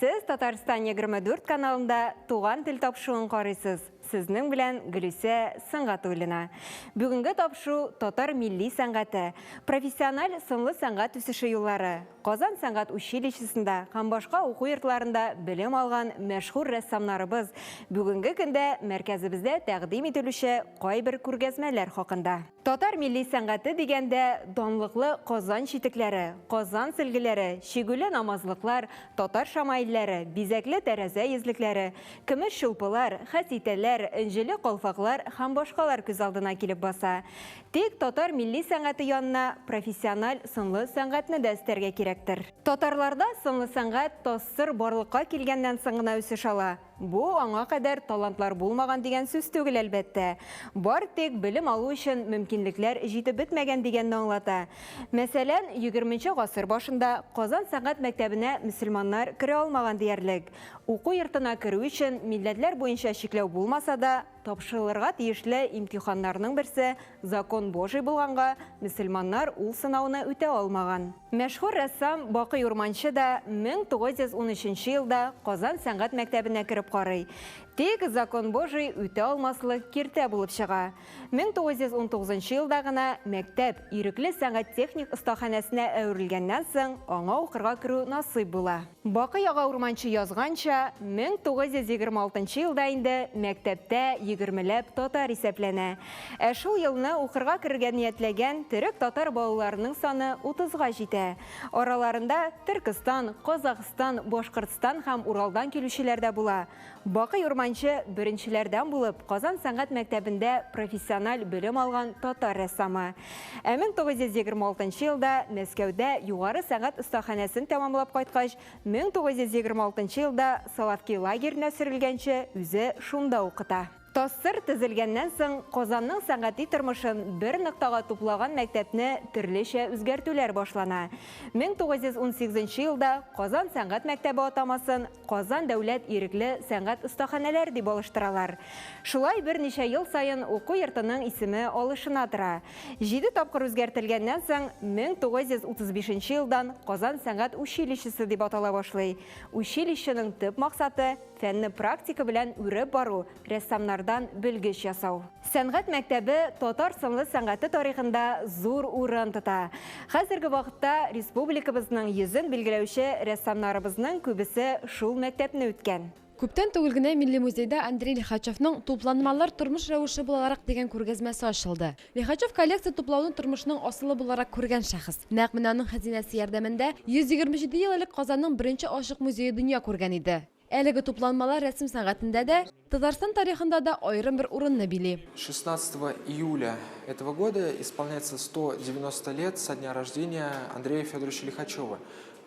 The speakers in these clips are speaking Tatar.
Сез Татарстан 24 каналында Туган тел тапшуын карыйсыз. Сезнең белән Гөлүсә Сынгатуллина. Бүгенге тапшу татар милли сәнгате, профессиональ сынлы сәнгать үсеше юллары. Казан сәнгать училищесында һәм башка уку йортларында белем алган мәшһүр рәссамнарыбыз бүгенге көндә мәркәзебездә тәкъдим ителүче кайбер күргәзмәләр хакында. Татар милли сәнгате дигәндә, данлыклы Казан читекләре, Казан сөлгеләре, чигүле намазлыклар, татар шамаилләре, бизәкле тәрәзә йөзлекләре, көмеш чулпылар, хәситәләр, энҗеле калфаклар һәм башкалар күз алдына килеп баса. Тик татар милли сәнгате янына профессиональ сынлы сәнгатьне дә өстәргә кирәктер. Татарларда сынлы сәнгать, тассыр барлыкка килгәннән соң гына үсеш ала. Бу, аңа кадәр талантлар булмаган дигән сүз түгел, әлбәттә. Бар тик белем алу өчен мөмкинлекләр җитеп бетмәгән дигәнне аңлата. Мәсәлән, егерменче гасыр башында Казан сәнгать мәктәбенә мөселманнар керә алмаган диярлек. Уку йортына керү өчен милләтләр буенча чикләү булмаса да, Тапшырылырга тиешле имтиханнарның берсе закон Божий булганга, мөселманнар ул сынауны үтә алмаган. Мәшһүр рәссам Бакый Урманче да 1913 елда Казан сәнгать мәктәбенә кереп карый. Тик закон Божий үтә алмаслык киртә булып чыга. 1919 елда гына мәктәп Ирекле сәнгать-техник остаханәсенә әверелгәннән соң аңа укырга керү насыйп була. Бакый ага Урманче язганча, 1926 елда инде мәктәптә егермеләп татар исәпләнә. Ә шул елны укырга керергә ниятләгән төрек-татар балаларының саны утызга җитә. Араларында Төркестан, Казакъстан, Башкортстан һәм Уралдан килүчеләр дә була. Бакый Урманчы беренчеләрдән булып Казан сәнгать мәктәбендә профессиональ белем алган татар рәссамы. Ә 1926 елда Мәскәүдә югары сәнгать остаханәсен тәмамлап кайткач, 1926 елда Соловки лагеренә сөрелгәнче үзе шунда укыта. Тастыр төзелгәннән соң, Казанның сәнгати тормышын бер ноктага туплаган мәктәпне төрлечә үзгәртүләр башлана. 1918 нче елда Казан сәнгать мәктәбе атамасын Казан дәүләт ирекле сәнгать остаханәләре дип алыштыралар. Шулай берничә ел саен уку йортының исеме алышына тора. Җиде тапкыр үзгәртелгәннән соң, 1935 нче елдан Казан сәнгать училищесы дип атала башлый. Училищеның төп максаты, Фәнне практика белән үреп бару, рәссамнардан белгеч ясау. Сәнгать мәктәбе татар сынлы сәнгате тарихында зур урын тота. Хәзерге вакытта республикабызның йөзен билгеләүче рәссамнарыбызның күбесе шул мәктәпне үткән. Күптән түгел генә Милли музейда Андрей Лихачевның Тупланмалар тормыш рәвеше булаларак дигән күргәзмәсе ачылды. Лихачев коллекция туплауны тормышның асылы буларак күргән шәхес. Нәкъ менә аның хәзинәсе ярдәмендә 127 ел элек Казанның беренче ачык музее дөнья күргән иде. Әлеге тупланмалар рәсем сәнгатендә дә, Татарстан тарихында да аерым бер урынны били. 16 июля этого года исполняется 190 лет со дня рождения Андрея Федоровича Лихачева.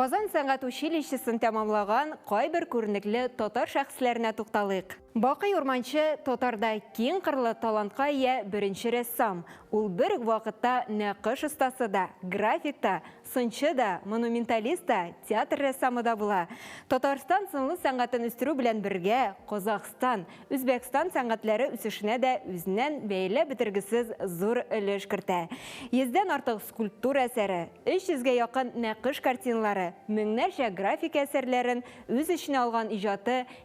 Казан сәнгать училищесын тәмамлаган кайбер күренекле татар шәхесләренә тукталыйк. Бакый Урманчы татарда киң кырлы талантка ия беренче рәссам. Ул бер үк вакытта нәкыш остасы да, график та, Сынчы да, монументалист та, театр рәссамы да була. Татарстан сынлы сәнгатен үстерү белән бергә, Казахстан, Үзбәкстан сәнгатьләре үсешенә дә үзеннән бәяләп бетергесез зур өлеш кертә. Йөздән артык скульптура әсәре, 300 гә якын нәкыш картиналары, меңнәрчә графика әсәрләрен үз эченә алган иҗаты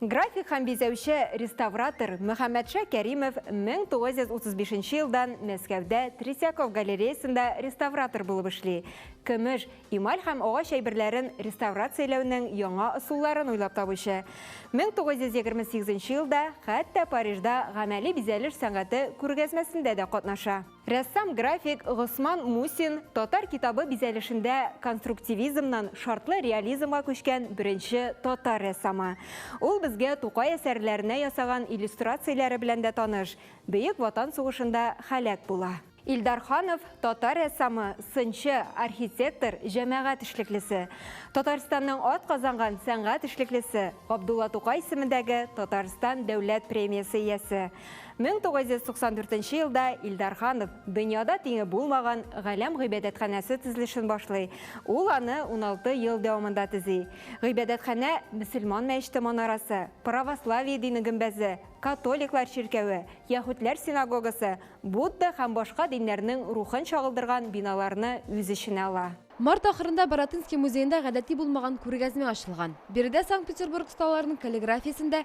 График һәм бизәүче, реставратор Мөхәммәтша Кәримов 1935 елдан Мәскәүдә Третьяков галереясында реставратор булып эшли. Көмеш, эмаль һәм агач әйберләрен реставрацияләүнең яңа ысулларын уйлап табучы. 1928 елда хәтта Парижда гамәли бизәлеш сәнгате күргәзмәсендә дә катнаша. Рәссам-график Госман Мусин татар китабы бизәлешендә конструктивизмнан шартлы реализмга күчкән беренче татар рәссамы. Ул безгә Тукай әсәрләренә ясаган иллюстрацияләре белән дә таныш, Бөек Ватан сугышында һәлак була. Илдар Ханов, татар рәссамы, сынчы, архитектор, җәмәгать эшлеклесе. Татарстанның атказанган сәнгать эшлеклесе, Габдулла Тукай исемендәге Татарстан дәүләт премиясе иясе. 1994 нче елда Илдар Ханов дөньяда тиңе булмаган Галәм гыйбадәтханәсе төзелешен башлый. Ул аны 16 ел дәвамында төзи. Гыйбадәтханә мөселман мәчете манарасы, православие дине гөмбәзе, католиклар чиркәве, яһүдләр синагогасы, Будда һәм башка диннәрнең рухын чагылдырган биналарны үз эченә ала. Март ахырында Баратынский музеенда гадәти булмаган күргәзмә ачылган. Биредә Санкт-Петербург осталарының каллиграфиясен дә,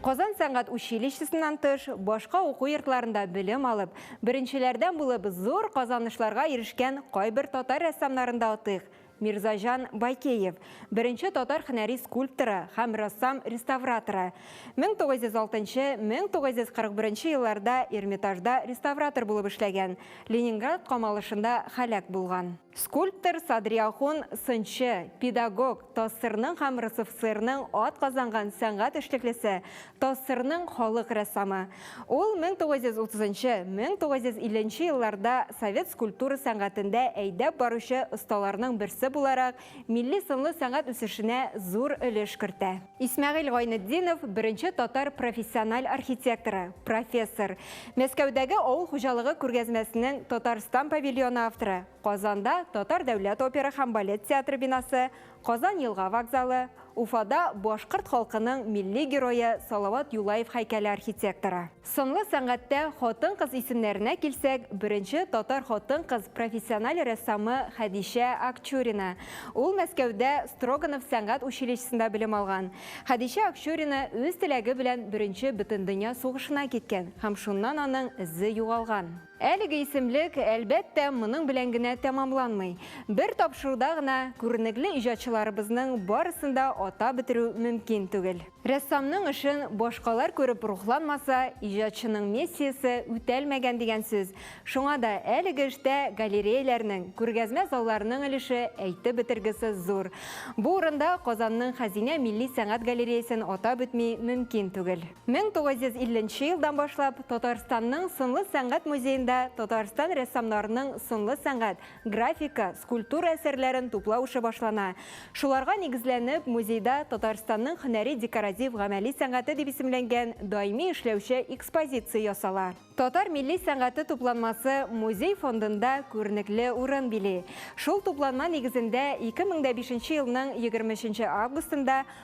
Казан сәнгать училищесыннан тыш, башка уку йортларында белем алып, беренчеләрдән булып зур казанышларга ирешкән кайбер татар рәссамнарын да атыйк. Мирзаҗан Байкеев, беренче татар хөнәри скульпторы һәм рәссам-реставраторы. 1906-1941 елларда Эрмитажда реставратор булып эшләгән, Ленинград камалышында һәлак булган. Скульптор Садриахун, сынчы, педагог, ТАССРның һәм РСФСРның атказанган сәнгать эшлеклесе, ТАССРның халык рәссамы. Ул 1930нчы, 1950 нче елларда совет скульптура сәнгатендә әйдәп баручы осталарның берсе буларак милли сынлы сәнгать үсешенә зур өлеш кертә. Исмәгыйль Гайнетдинов, беренче татар профессиональ архитекторы, профессор. Мәскәүдәге авыл хуҗалыгы күргәзмәсенең Татарстан павильоны авторы, Казанда Татар дәүләт опера һәм балет театры бинасы, Казан елга вокзалы, Уфада башкорт халкының милли герое Салават Юлаев һәйкәле архитекторы. Сынлы сәнгатьтә хатын-кыз исемнәренә килсәк, беренче татар хатын-кыз профессиональ рәссамы Хәдичә Акчурина. Ул Мәскәүдә Строганов сәнгать училищесында белем алган. Хәдичә Акчурина үз теләге белән Беренче Бөтендөнья сугышына киткән һәм шуннан аның эзе югалган. Әлеге исемлек, әлбәттә, моның белән генә тәмамланмый. Бер тапшыруда гына күренекле иҗатчыларыбызның барысын да атап бетерү мөмкин түгел. Рәссамның эшен башкалар күреп рухланмаса, иҗатчының миссиясе үтәлмәгән дигән сүз. Шуңа да әлеге эштә галереяләрнең, күргәзмә залларының өлеше әйтеп бетергесез зур. Бу урында Казанның Хәзинә милли сәнгать галереясен атап үтми мөмкин түгел. 1950 нче елдан башлап Татарстанның сынлы сәнгать музеенда Татарстан рәссамнарының сынлы сәнгать, графика, скульптура әсәрләрен туплау эше башлана. Шуларга нигезләнеп, музейда Татарстанның һөнәри декоратив-гамәли сәнгате дип исемләнгән даими эшләүче экспозиция ясала. Татар милли сәнгате тупланмасы музей фондында күренекле урын били. Шул тупланма нигезендә 2005 елның 23 августында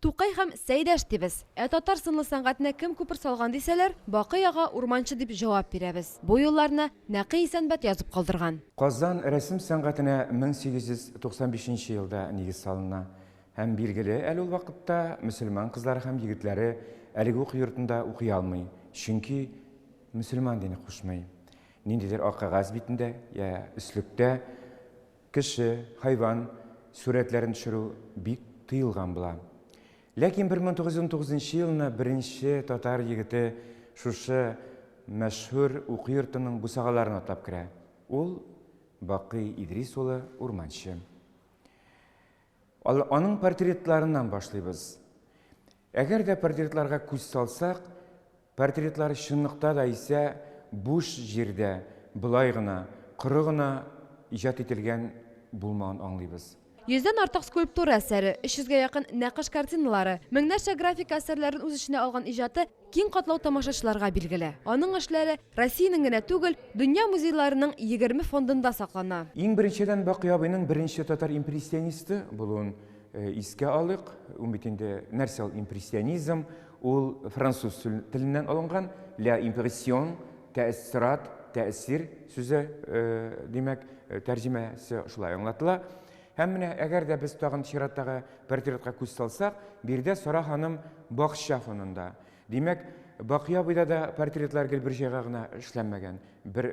Тукай һәм Сәйдәш дибез. Ә татар сынлы сәнгатенә кем күпер салган дисәләр, Бакый ага Урманчы дип җавап бирәбез. Бу юлларны Нәкый Исәнбәт язып калдырган. Казан рәсем сәнгатенә 1895 нче елда нигез салына. Һәм билгеле, әле ул вакытта мөселман кызлары һәм егетләре әлеге уку йортында укый алмый, чөнки мөселман дине кушмый. Ниндидер ак кәгазь битендә, йә өслектә Кеше, хайван сурәтләрен төшерү бик тыелган була. Ләкин 1919 елны беренче татар егете шушы мәшһүр уку йортының бусагаларын атлап керә. Ул Бакый Идрис улы Урманчы. Аның портретларыннан башлыйбыз. Әгәр дә портретларга күз салсак, Портретлар чынлыкта да исә буш җирдә болай гына, коры гына иҗат ителгән булмавын аңлыйбыз. Йөздән артык скульптура әсәре, 300 гә якын нәкыш картиналары, меңнәрчә графика әсәрләрен үз эченә алган иҗаты киң катлау тамашачыларга билгеле. Аның эшләре Россиянең генә түгел, дөнья музейларының егерме фондында саклана. Иң беренчедән Бакый абыйның беренче татар импрессионисты булуын искә алыйк. Ул бит инде нәрсә ул импрессионизм? Ул француз теленнән алынган, la impression, тәэссорат, тәэсир сүзе, димәк, тәрҗемәсе шулай аңлатыла. Һәм менә, әгәр дә без тагын чираттагы портретка күз салсак, биредә Сара ханым бакча фонында. Димәк, Бакый абыйда да портретлар гел бер җайга гына эшләнмәгән. Бер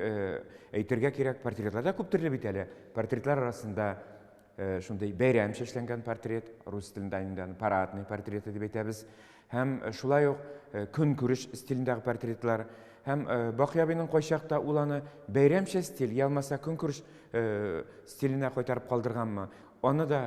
әйтергә кирәк, портретлар да күп төрле бит әле. Портретлар арасында Э, шундый бәйрәм чәчләнгән портрет рус телендә инде аны парадный портреты дип әйтәбез һәм э, шулай ук э, көнкүреш стилендәге портретлар һәм бакый абыйның кайчакта ул аны бәйрәмчә стиль ялмаса көнкүреш стиленә кайтарып калдырганмы аны да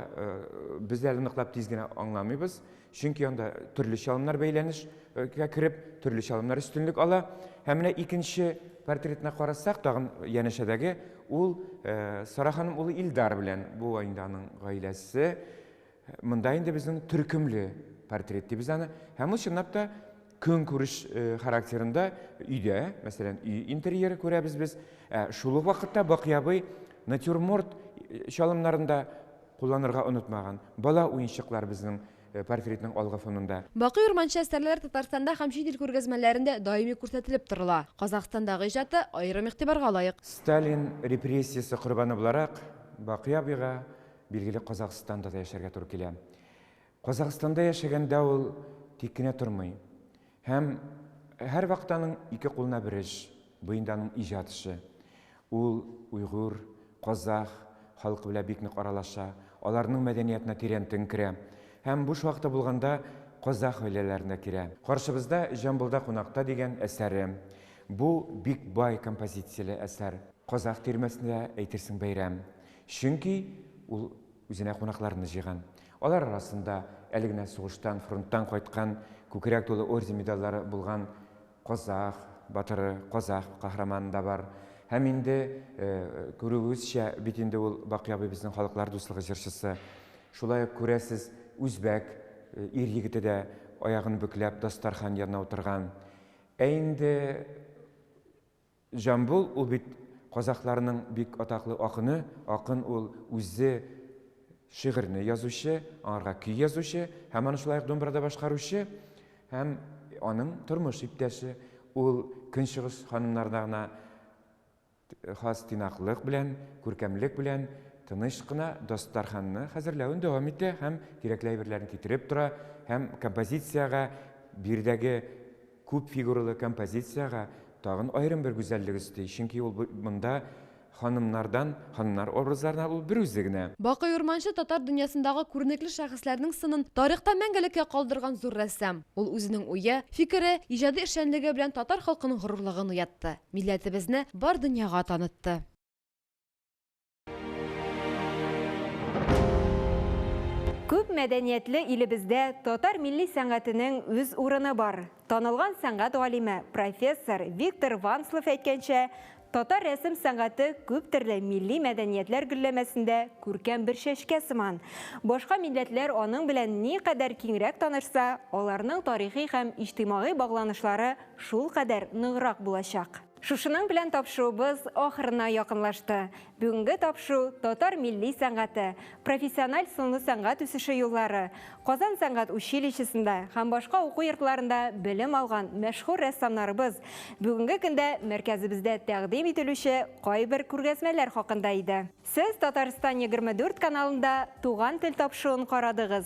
без әле ныклап тиз генә аңламыйбыз Чөнки анда төрле чалымнар бәйләнешкә кереп, төрле чалымнар өстенлек ала. Һәм менә икенче портретына карасак, тагын янәшәдәге ул э, Сара ханым улы Илдар белән бу инде аның гаиләсе. Монда инде безнең төркемле портрет дибез аны. Һәм ул чынлап та Көнкүреш характерында өйдә, мәсәлән, өй интерьеры күрәбез без. Ә шул ук вакытта Бакый абый натюрморт чалымнарында кулланырга онытмаган. Бала уенчыклар безнең портретның алгы фонында. Бакый Урманче әсәрләре Татарстанда һәм чит ил күргәзмәләрендә даими күрсәтелеп торыла. Казахстандагы иҗаты аерым игътибарга лаек. Сталин репрессиясе корбаны буларак, Бакый абыйга, билгеле, Казахстанда да яшәргә туры килә. Казахстанда яшәгәндә ул тик кенә тормый һәм һәрвакыт аның ике кулына бер эш, бу инде аның иҗат эше. Ул уйгур, казах халкы белән бик нык аралаша, аларның мәдәниятына тирәнтен керә һәм буш вакыты булганда казах гаиләләренә керә. Каршыбызда Җамбылда кунакта дигән әсәре. Бу бик бай композицияле әсәр. Казах тирмәсендә әйтерсең бәйрәм, чөнки ул. Үзенә кунакларны җыйган. Алар арасында әле генә сугыштан, фронттан кайткан, күкрәк тулы орден-медальләре булган казах батыры, казах каһарманы да бар. Һәм инде, күрүебезчә, бит инде ул Бакый абый безнең халыклар дуслыгы җырчысы. Шулай ук, күрәсез, үзбәк ир-егете дә аягын бөкләп дастархан янына утырган. Ә инде Җамбул ул бит казахларның бик атаклы акыны, акын ул үзе шигырьне язучы, аңарга көй язучы һәм аны шулай ук думбрада башкаручы һәм аның тормыш иптәше. Ул көнчыгыш ханымнарына гына хас тыйнаклык белән, күркәмлек белән тыныч кына дастарханны хәзерләвен дәвам итә һәм кирәкле әйберләрен китереп тора һәм композициягә биредәге Күп фигуралы композициягә тагын аерым бер гүзәллек өсти, чөнки ул монда ханымнардан, ханымнар образларыннан ул берүзе генә. Бакый Урманче татар дөньясындагы күренекле шәхесләрнең сынын тарихта мәңгелеккә калдырган зур рәссам. Ул үзенең уе, фикере, иҗади эшчәнлеге белән татар халкының горурлыгын уятты, милләтебезне бар дөньяга танытты. Күп мәдәниятле илебездә татар милли сәнгатенең үз урыны бар. Танылган сәнгать галиме, профессор Виктор Ванслов әйткәнчә, татар рәсем сәнгате күп төрле милли мәдәниятләр гөлләмәсендә күркәм бер чәчкә сыман. Башка милләтләр аның белән ни кадәр киңрәк танышса, аларның тарихи һәм иҗтимагый багланышлары шул кадәр ныграк булачак. Шушының белән тапшуыбыз ахырына якынлашты. Бүгенге тапшу татар милли сәнгате, профессиональ сынлы сәнгать үсеше юллары, Казан сәнгать училищесында һәм башка уку йортларында белем алган мәшһүр рәссамнарыбыз, бүгенге көндә мәркәзебездә тәкъдим ителүче кайбер күргәзмәләр хакында иде. Сез Татарстан егерме дүрт каналында Туган тел тапшуын карадыгыз,